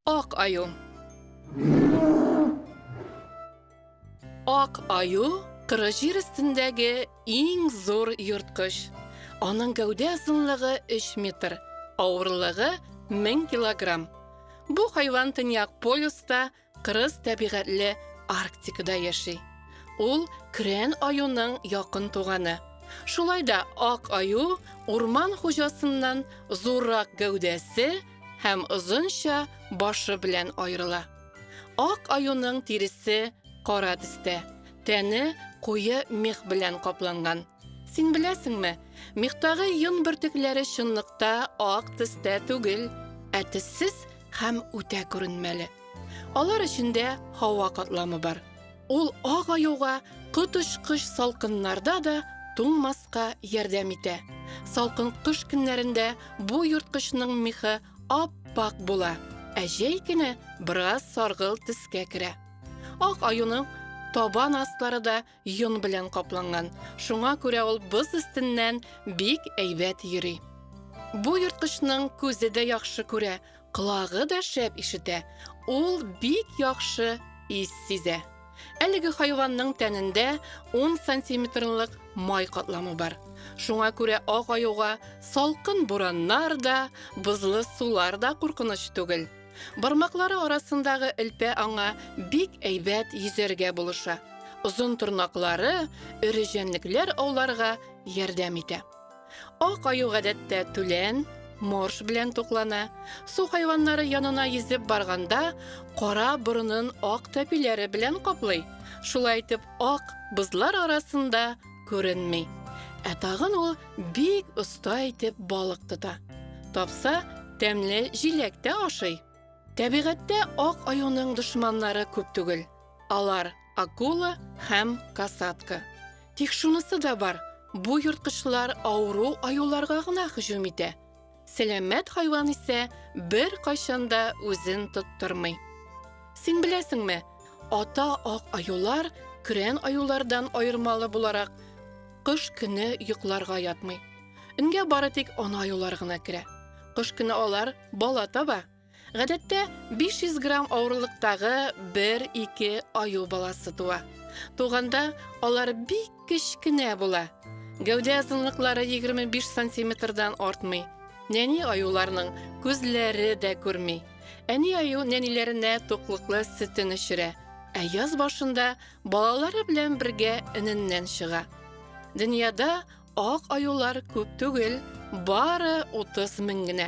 Ак аю. Ак аю тыры җир өстендәге иң зур йорткыч. Аның гәүдә озынлыгы 3 метр, авырлыгы 1000 килограмм. Бу хайван төньяк полюста Кырыс тәбигатьле Арктикада яши. Ул Крен аюның якын туганы. Шулай да ак аю урман хуҗасыннан зуррак гәүдәсе һәм озынча башы белән аерыла. Ак аюның тиресе кара төстә, тәне куе мех белән капланган. Син беләсеңме, мехтагы йон бөртекләре чынлыкта ак төстә түгел, ә төссез һәм үтә күренмәле. Алар эчендә һава катламы бар. Ул ак аюга коточкыч салкыннарда да туңмаска ярдәм итә. Салкын кыш көннәрендә бу ерткычның мехы ап-пак була, ә җәй көне бераз саргылт төскә керә. Ак аюның табан аслары да Йон белән капланган, шуңа күрә ул боз өстеннән бик әйбәт йөри. Бу ерткычның күзе дә яхшы күрә, колагы да шәп ишетә. Ул бик яхшы ис сизә. Әлеге хайванның тәнендә 10 сантиметрлык май катламы бар. Шуңа күрә ак аюга салкын бураннар да, бозлы сулар да куркыныч түгел. Бармаклары арасындагы элпә аңа бик әйбәт йөзәргә булыша. Озын тырнаклары эре җәнлекләр ауларга ярдәм итә. Ак аю гадәттә түлән, морж белән туклана. Су хайваннары янына йөзеп барганда, кара борынын ак тәпиләре белән каплый. Шулай итеп, ак бозлар арасында күренми. Ә тагын ул бик оста итеп балык тота. Тапса, тәмле җиләк тә ашый. Табигатьтә ак аюның дошманнары күп түгел. Алар акула һәм касатка. Тик шунысы да бар, бу йорткычлар авыру аюларга гына һөҗүм итә. Сәламәт хайван исә беркайчан да үзен тоттырмый. Син беләсеңме, ата ак аюлар көрән аюлардан аермалы буларак кыш көне йокларга ятмый. Үнгә бары тик ана аюлар гына керә. Кыш көне алар бала таба. Гадәттә, 500 грамм авырлыктагы бер-ике аю баласы туа. Туганда алар бик кечкенә була. Гәүдә озынлыклары 25 сантиметрдан артмый. Нәни аюларның күзләре дә күрми. Әни аю нәниләренә туклыклы сөтен эчерә, ә яз башында балалары белән бергә эненнән чыга. Дөньяда ак аюлар күп түгел, бары 30 мең генә.